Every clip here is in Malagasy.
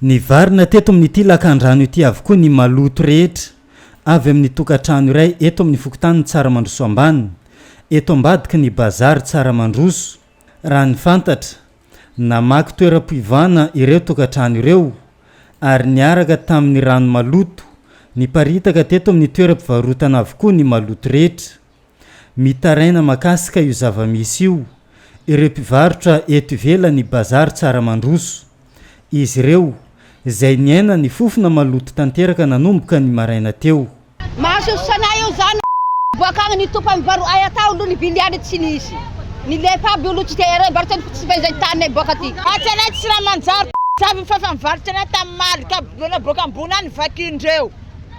Nivarina teto amin'ity lakandrano ity avokoa ny maloto rehetra avy amin'ny tokantrano iray eto amin'ny fokontanin'i Tsaramandroso Ambany, eto ambadiky ny Bazary Tsaramandroso. Raha ny fantatra, namaky toeram-piovana ireo tokantrano ireo ary niaraka tamin'ny rano maloto niparitaka teto amin'ny toeram-pivarotana avokoa ny maloto rehetra. Mitaraina makasika io zava-misy io ireo mpivarotra eto ivelan'ny bazary tsara mandroso. Izy ireo, izay niaina ny fofona maloto tanteraka nanomboka ny maraina teo. Mahasoso sanay eo zany a! Boak'agny ny topa mivaro ay atao aloha ny viliany tsy nisy. Nilefa aby olo tsy te re barotra tsy fehizay tane boaka ty. Atsy anay tsy raha manjary, jiaby mifafa mivarotra anay tam maly ka boloana boaka ambony any vakian dreo.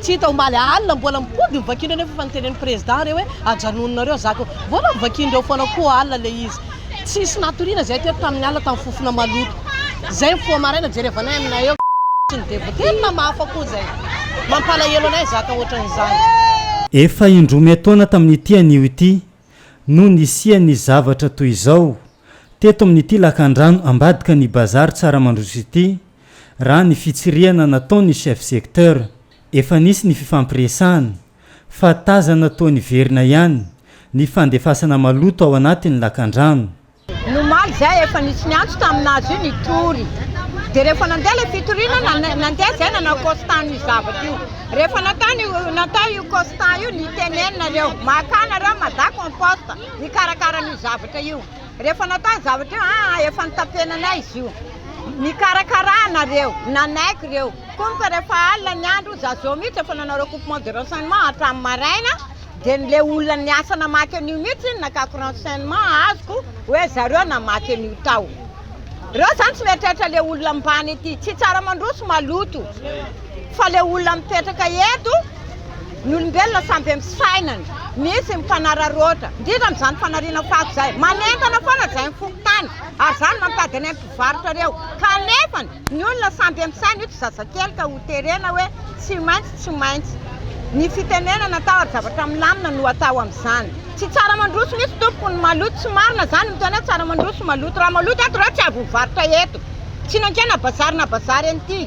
Tsy hita omaly alina mbola mipody ny vakin'ireo nefa efa notenenin'ny président re hoe ajanononareo azako eo. Vola vakin'ireo foana koa alina ilay izy. Tsisy natoriana izahay teto tamin'ny alina tamin'ny fofona maloto. Izay mifoha maraina jerevanay aminay eo sy ny devote. Tena mahafa koa izay. Mampalahelo anay zaka ohatran'izany. Efa indroa may taona tamin'ity anio ity no nisian'ny zavatra toy izao teto amin'ity lakandrano ambadika ny bazary Tsaramandroso ity Raha ny fitsirihana nataon'ny chef secteur, efa nisy ny fifampiresahana fa tazana toa niverina ihany ny fandefasana maloto ao anatin'ny lakandrano. Ny omaly izay, efa nisy niantso tamin'azy io nitory. Dia rehefa nandeha ilay fitoriana, nandeha izay nanao constat an'io zavatra io. Rehefa natao io constat io, nitenenina ireo, makà nareo Mada compost, hikarakara an'io zavatra io. Rehefa natao zavatra io, ah, efa notapenanay izy io. Nikarakara nareo, nanaiky ireo. Comme que rehefa alina ny andro, za zao mihitsy efa nanao recoupement de renseignement hatramin'ny maraina, dia ny le olona niasa namaky an'io mihitsy nakako renseignement azoko hoe zareo namaky an'io tao. Reo zany tsy mieritreritra le olona ambany ety, tsy tsara mandroso maloto, fa le olona mipetraka eto, Ny olombelona samy be fisainana, misy mifanararaotra, indrindra amin'izany fanariana fako izay. Manentana foana izay ny fokontany ary izany mampiady anay mpivarotra ireo. Kanefa ny olona samy be misaina, io tsy zazakely ka ho terena hoe tsy maintsy, tsy maintsy. Ny fitenenana atao ary zavatra milamina no atao amin'izany. Tsy tsara mandroso mihitsy tompoko ny maloto, tsy marina izany miteny hoe tsara mandroso maloto. Raha maloto eto ireo tsy avy mivarotra eto. Tsy nankena bazary na bazary an'ity.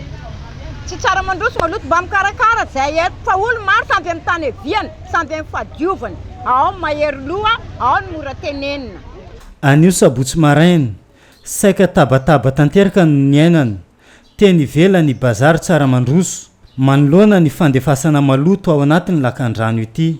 Tsy tsara mandroso maloto Mba mikarakara izay hery Fa olo maro samy amin'ny tany hiaviany Samy amin'ny fahadiovany Ao ny mahery loha Ao ny mora tenenina. Anio sabotsy maraina, saika tabataba tanteraka no niainana, teny ivelany i Bazary Tsaramandroso, manoloana ny fandefasana maloto ao anatin'ny lakandrano ity.